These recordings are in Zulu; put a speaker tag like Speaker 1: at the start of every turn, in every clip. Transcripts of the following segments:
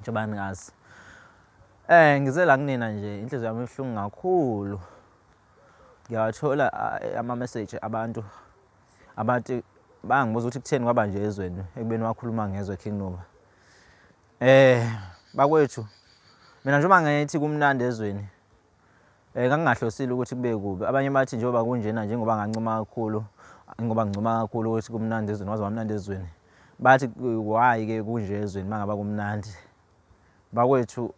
Speaker 1: Njengoba ningazi. Eh ngize la kunina nje inhliziyo yami ibuhlungu kakhulu. Ngiyawathola eh, ama message abantu abathi bangibuza ukuthi kutheni kwaba nje ezweni ekubeni wakhuluma ngezwe King Noma. Eh bakwethu mina njengoba ngithi kumnandi ezweni Eh ngangingahlosile ukuthi kube kubi. Abanye bathi njengoba kunjena njengoba ngancoma kakhulu ngoba ngincoma kakhulu ukuthi kumnandi ezweni waze wamnandi ezweni. Bathi why ke kunje ezweni mangaba kumnandi. Bakwethu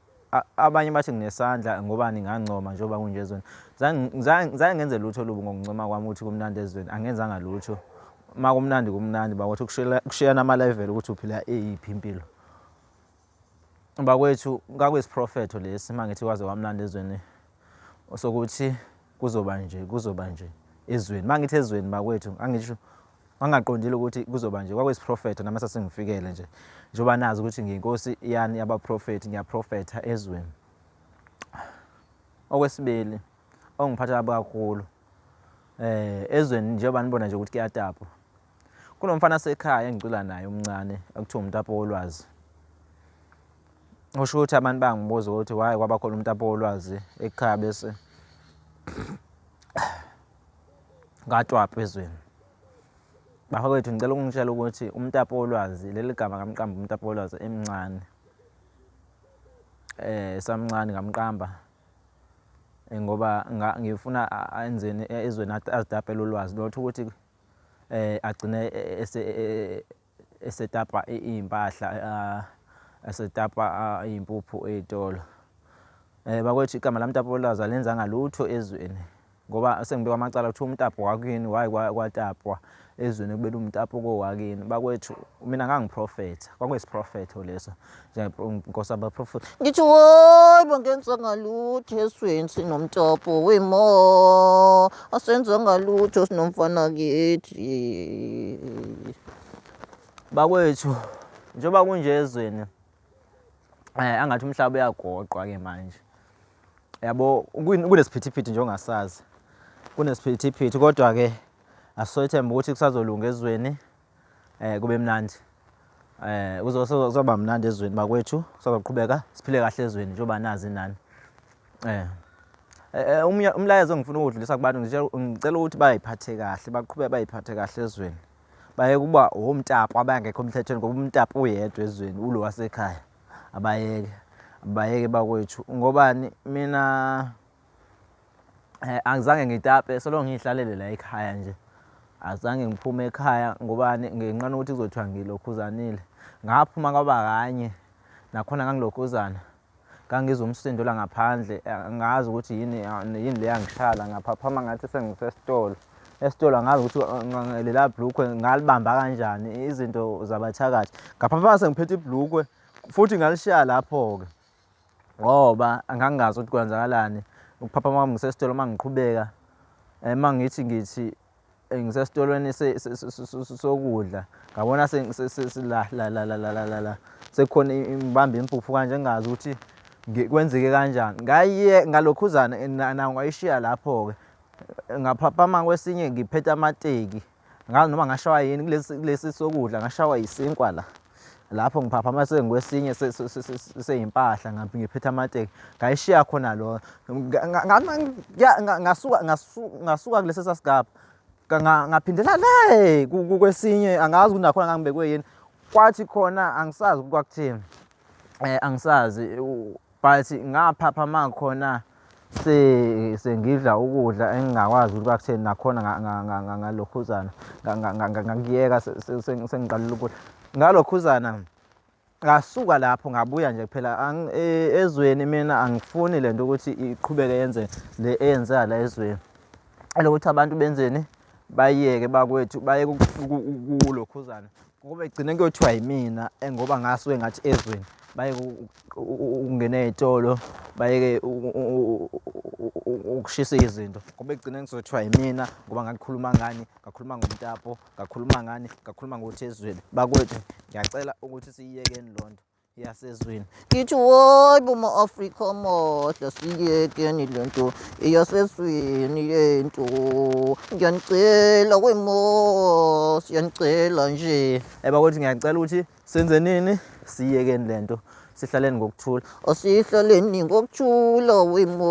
Speaker 1: abanye bathi nginesandla ngobani ngancoma njengoba kunje ezweni. Zange ngenze lutho lubi ngokuncoma kwami ukuthi kumnandi ezweni. Angenzanga lutho. Makumnandi kumnandi bakwethu kushiyana ama level ukuthi uphila eyiphi impilo. bakwethu kakuyisiprofetho lesi uma ngithi waze wamlanda ezweni sokuthi kuzoba nje kuzoba nje ezweni uma ngithi ezweni bakwethu angisho wangaqondile ukuthi kuzoba nje kwakuyisiprofetho nami sasengifikele nje njengoba nazi ukuthi ngiyinkosi yani yabaprofethi ngiyaprofetha ezweni okwesibili ongiphatha kabi kakhulu um ezweni njengoba nibona nje ukuthi kuyatapwa kunomfana sekhaya engicula naye umncane okuthiwa umtapo wolwazi usho ukuthi abantu bangibuza ukuthi waye kwaba khona umtapo wolwazi ekhaya bese ngatwapha ezweni bafowethu ngicela ukungitshela ukuthi umtapo wolwazi leli gama kamqamba umtapo wolwazi emncane eh samncane ngamqamba eh, ngoba ngifuna enzeni ezweni azidabhela ulwazi lotho ukuthi eh agcine ese esetapa impahla esetapa impuphu ezitolo eh bakwethu igama lamtapolaza lenza ngalutho ezweni ngoba sengibekwa amacala kuthiwa umtapo wakini wayi kwatapwa ezweni kubela umtapo kowakini bakwethu mina ngangiprofetha kwakuyisiprofetho leso nkosi abaprofethi ngithi woyi bangenza ngalutho esweni sinomtopho wemo asenza ngalutho sinomfana kithi bakwethu njengoba kunje ezweni um angathi umhlaba uyagoqwa ke manje yabo kunesiphithiphithi nje ongasazi kunesiphithiphithi kodwa-ke asithembe ukuthi kusazolunga ezweni eh kube mnandi eh kuzoba mnandi ezweni bakwethu kuzoqhubeka siphile kahle ezweni njengoba nazi nani eh, eh, eh umlayezo engifuna ukudlulisa kubantu ngicela ukuthi bayiphathe kahle baqhubeke bayiphathe kahle ezweni baye kuba womtapo abangekho emthethweni ngoba umtapo uyedwa ezweni ulo wasekhaya abayeke abayeke bakwethu ngobani mina Eh, angizange ngitape solo ngiyihlalele la ekhaya nje azange ngiphume ekhaya ngobani ngenqana ukuthi kuzothiwa ngilokhuzanile ngaphuma kwaba kanye nakhona ngangilokhuzana ngangizwa umsindo la ngaphandle eh, ngazi ukuthi yini eh, yini le yangishala ngaphaphama ngathi sengisesitolo esitolo angazi ukuthi eh, lela blukwe ngalibamba kanjani izinto zabathakathi ngaphaphama sengiphethe iblukwe futhi ngalishiya lapho-ke ngoba angangazi ukuthi kwenzakalani ukuphaphama kwami ngisesitolo uma ngiqhubeka eh, uma ngithi ngithi eh, ngisesitolweni sokudla ngabona la sekukhona ngibambe impuphu kanje ngingazi ukuthi kwenzeke kanjani ngaye ngalokhuzana nawo ngayishiya lapho-ke ngaphaphama kwesinye ngiphethe amateki ngazi noma ngashawa yini kulesi sokudla ngashawa yisinkwa la lapho ngiphaphama sengikwesinye seyimpahla ngabe ngiphethe amateki ngayishiya khona lo ngasuka ngasuka kulesi sasigaba ngaphindela le kwesinye angazi ukuthi nakhona ngangibekwe yini kwathi khona angisazi kwakuthini um angisazi but ngaphapha makhona se sengidla ukudla engingakwazi ukuba kutheni nakhona ngalokhuzana ngakuyeka sengiqalile ukudla ngalokhuzana ngasuka lapho ngabuya nje kuphela e, ezweni mina angifuni le nto ukuthi iqhubeke yenze le eyenzeka la ezweni elokuthi abantu benzeni bayeke bakwethu bayeke ukulokhuzana Ngoba egcine kuyothiwa yimina engoba ngasuke ngathi ezweni bayeke ukungena ey'tolo bayeke ukushisa izinto ngoba egcine ngizothiwa yimina ngoba ngakhuluma ngani ngakhuluma ngomtapo ngakhuluma ngani ngakhuluma ngothi ezweni bakwethu ngiyacela ukuthi siyiyekeni loo nto yasezweni ngithi woyi buma afrika amahle siyekeni le nto eyasezweni yento ngiyanicela kwemo siyanicela nje eba kuthi ngiyacela ukuthi senze nini siyekeni le nto sihlaleni ngokuthula asihlaleni ngokuthula wemo